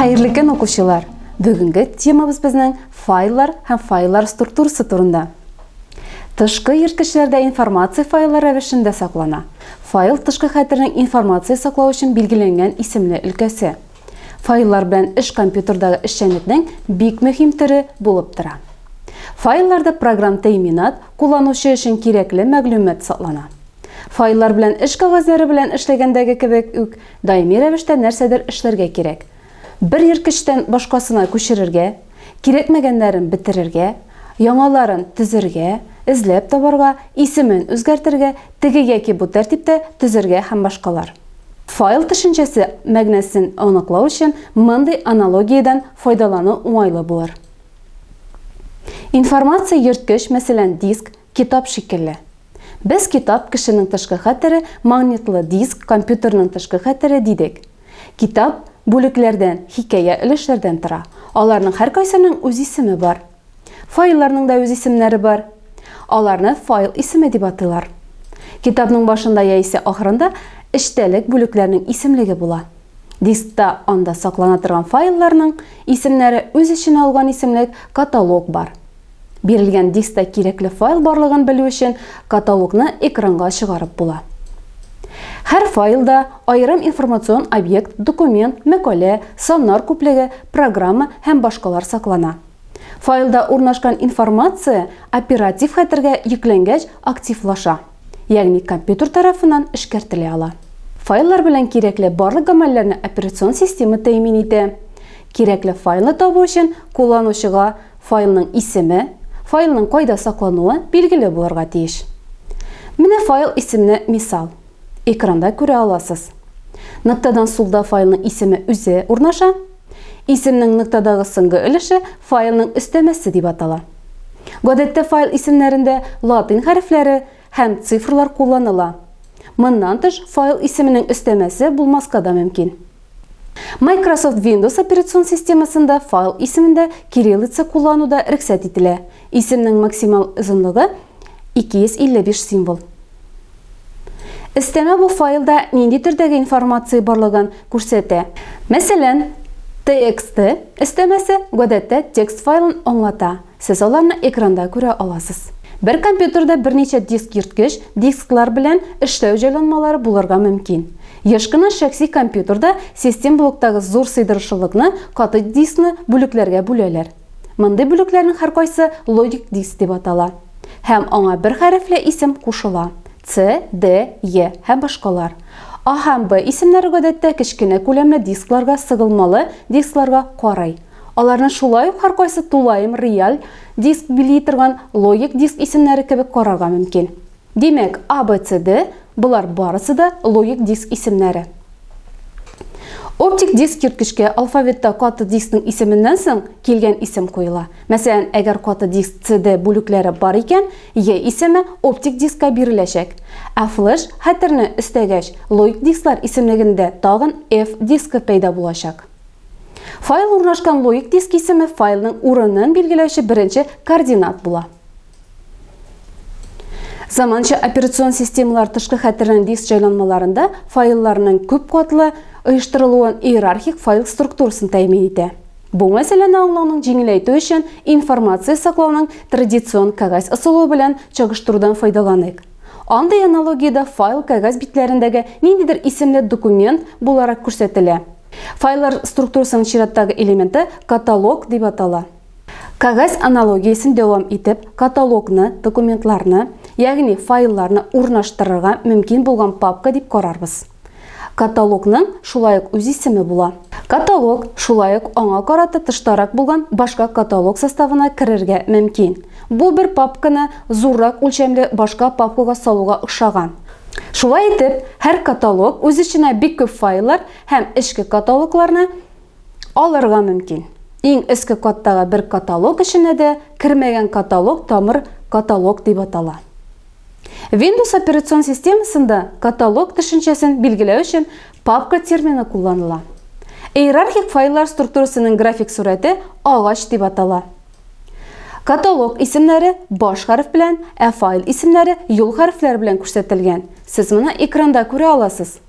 Хәерле көн укучылар! Бүгенге темабыз безнең файллар һәм файллар структурасы турында. Тышкы ерткечләрдә информация файллар рәвешендә саклана. Файл тышкы хәтернең информация саклау өчен билгеләнгән исемле өлкәсе. Файллар белән эш компьютердагы эшчәнлекнең бик мөһим төре булып тора. Файлларда программ тәэминат, кулланучы өчен кирәкле мәгълүмат саклана. Файллар белән эш кәгазьләре белән эшләгәндәге кебек үк, даими рәвештә нәрсәдер эшләргә кирәк. Бер ерткычтан башкасына күчерергә, кирәкмәгәннәрен бетерергә, яңаларын төзергә, эзләп табарга, исемен үзгәртергә, теге яки бу тәртиптә төзергә һәм башкалар. Файл төшенчәсе мәгънәсен аныклау өчен мондый аналогиядән файдалану уңайлы булыр. Информация йөрткеч, мәсәлән, диск, Китап шикелле. Без китап, кешенең тышкы хәтере, магнитлы диск, компьютерның тышкы хәтере, дидек. Китап, бүлекләрдән, хикәя өлешләрдән тора. Аларның һәркайсының үз исеме бар. Файлларның да үз исемнәре бар. Аларны файл исеме дип атыйлар. Китапның башында яисә ахырында эчтәлек бүлекләрнең исемлеге була. Дискта, анда саклана торган файлларның, исемнәре үз эченә алган исемлек, каталог, бар. Бирелгән дискта кирәкле файл барлыгын белү өчен каталогны экранга чыгарып була. Һәр файлда аерым информацион объект, документ, мәкалә, саннар күплеге, программа һәм башкалар саклана. Файлда урнашкан информация оператив хәтергә йөкләнгәч активлаша. ягъни компьютер тарафыннан эшкәртелә ала. Файллар белән кирәкле барлык гамәлләрне операцион система тәэмин итә. Кирәкле файлны табу өчен кулланучыга файлның исеме, файлның кайда саклануы билгеле булырга тиеш. Менә файл исеменә мисал. Экранда күрә аласыз. Ноктадан сулда файлның исеме үзе урнаша, Исемнең ноктадагы соңгы өлеше файлның өстәмәсе дип атала. Гадәттә файл исемнәрендә латин хәрефләре һәм цифрлар кулланыла. Моннан тыш, файл исеменең өстәмәсе булмаска да мөмкин. Microsoft Windows операцион системасында файл исемендә кириллица куллану да рөхсәт ителә. Исемнең максимал озынлыгы 255 символ. Өстәмә бу файлда нинди төрдәге информация барлыгын күрсәтә. Мәсәлән, txt өстәмәсе гадәттә текст файлын аңлата, сез аларны экранда күрә аласыз. Бер компьютерда берничә диск йөрткеч, дисклар белән эшләү җайланмалары булырга мөмкин. Еш кына шәхси компьютерда систем блоктагы зур сыйдырышлылыкны, каты дискны, бүлекләргә бүләләр. Мондый бүлекләрнең һәркайсы логик диск дип атала һәм аңа бер хәрефле исем кушыла, С, Д, Е һәм башкалар. А һәм Б исемнәре гадәттә кечкенә күләмле дискларга, сыгылмалы дискларга карый. Аларны шулай ук һәркайсы тулаем реаль диск били торган логик диск исемнәре кебек карарга мөмкин. Димәк, A, B, C, D, болар барысы да логик диск исемнәре. Оптик диск йөрткечкә алфавитта каты дискның исеменнән соң килгән исем куела. Мәсәлән, әгәр каты диск CD бүлекләре бар икән, E исеме оптик дискка биреләчәк. Ә флеш хәтерне өстәгәч, логик дисклар исемлегендә тагын F дискы пәйда булачак. Файл урнашкан логик диск исеме файлның урынын билгеләүче беренче координат була. Заманча операцион системалар тышкы хәтернең диск җайланмаларында файлларның күп катлы оештырылуын иерархик файл структурасын тәэмин итә. Бу мәсьәләне аңлауның җиңеләйтү өчен информация саклауның традицион кәгазь ысулы белән чагыштырудан файдаланыйк. Андый аналогиядә файл кәгазь битләрендәге ниндидер исемле документ буларак күрсәтелә. Файллар структурасының чираттагы элементы каталог дип атала. Кәгазь аналогиясен дәвам итеп, каталогны, документларны, ягъни файлларны урнаштырырга мөмкин булган папка дип карарбыз. Каталогның шулай ук үз исеме була. Каталог шулай ук аңа карата тыштарак булган башка каталог составына керергә мөмкин. Бу бер папканы зуррак үлчәмле башка папкага салуга охшаган. Шулай итеп, һәр каталог үз эченә бик күп файллар һәм эчке каталогларны алырга мөмкин. Иң өске каттагы бер каталог эченә дә кермәгән каталог тамыр каталог дип атала. Windows операцион системасында каталог төшенчәсен билгеләү өчен папка термины кулланыла. Иерархик файллар структурасының график сурәте агач дип атала. Каталог исемнәре баш хәреф белән, ә файл исемнәре юл хәрефләре белән күрсәтелгән. Сез моны экранда күрә аласыз.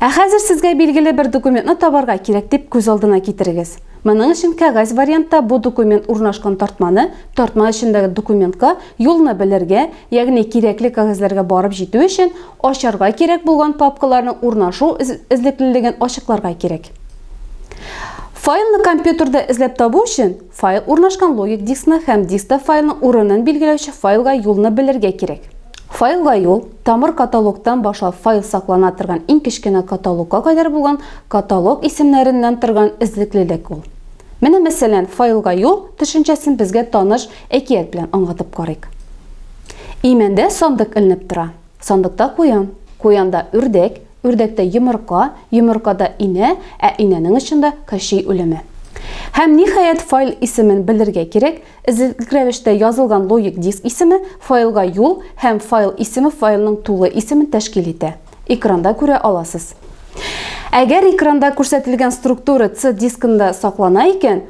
Ә хәзер сезгә билгеле бер документны табарга кирәк дип күз алдына китерегез. Моның өчен кәгазь вариантта бу документ урнашкан тартманы, тартма эчендәге документка юлны белергә, ягъни кирәкле кәгазьләргә барып җитү өчен ачарга кирәк булган папкаларның урнашу эзлеклелеген ачыкларга кирәк. Файлны компьютерда эзләп табу өчен, Файл урнашкан логик дискны һәм дискта файлның урынын билгеләүче файлга юлны белергә кирәк. Файлга юл, тамыр каталогтан башлап файл саклана торган иң кечкенә каталогка кадәр булган каталог исемнәреннән торган эзлеклелек ул. Менә мәсәлән, файлга юл төшенчәсен безгә таныш әкият белән аңлатып карыйк. Имәндә сандык эленеп тора. Сандыкта куян, куянда үрдәк, үрдәктә йомырка, йомыркада инә, ә инәнең очында Кощей үлеме. Һәм, ниһаять, файл исемен белергә кирәк, эзлекле рәвештә язылган логик диск исеме файлга юл һәм файл исеме файлның тулы исемен тәшкил итә. Экранда күрә аласыз. Әгәр экранда күрсәтелгән структура C дискында саклана икән,